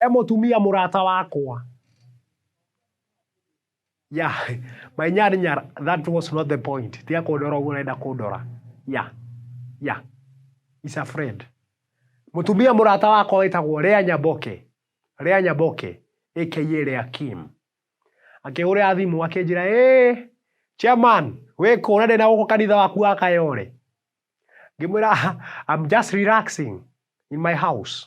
e mũtumia mũrata wakwa ya my nyar nyar that was not the point tiga kũndora ũguo ũrenda kũndora ya ya is a friend mũtumia mũrata wakwa wĩtagwo Lea Nyaboke Lea Nyaboke aka Lea Kim akĩhũrĩra thimũ akĩnjĩra ĩ chairman wĩkũ ũrenda na gũkũ kanitha waku wa kayore ngĩmwĩra I'm just relaxing in my house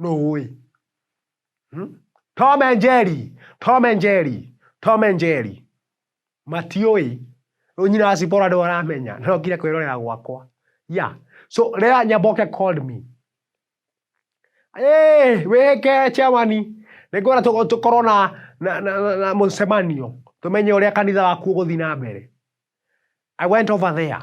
Nũũĩ. Hmm? Tom and Jerry, Tom and Jerry, Tom and Jerry. Matiũĩ. Nyina wa Sipora ndio aramenya. No ngire kwĩrorera gwakwa. Yeah. So rĩrĩa Nyaboke called me. Eh, wĩke chewani. Nĩngwenda tũkorwo na na na, na mũcemanio. Tũmenye ũrĩa kanitha waku ũgũthiĩ na mbere. I went over there.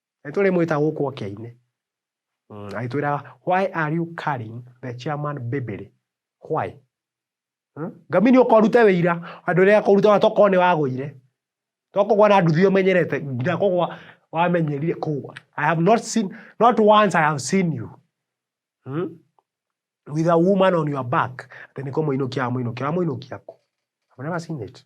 Nĩtũrĩmwĩta gũkũ oke aine. Agĩtwĩra why are you carrying the chairman babyly? Why? Ngamini ũka ũrute wĩira andũ arĩa akũruta tokorwo nĩ wagũire. To kũgwa na nduthi ũmenyerete nginya kũgwa wamenyerire kũgwa. I have not seen, not once I have seen you. Hmm? With a woman on your back. Atĩ nĩ kũmũinũkia wamũinũkia. Wamũinũkia kũ? I've never seen it.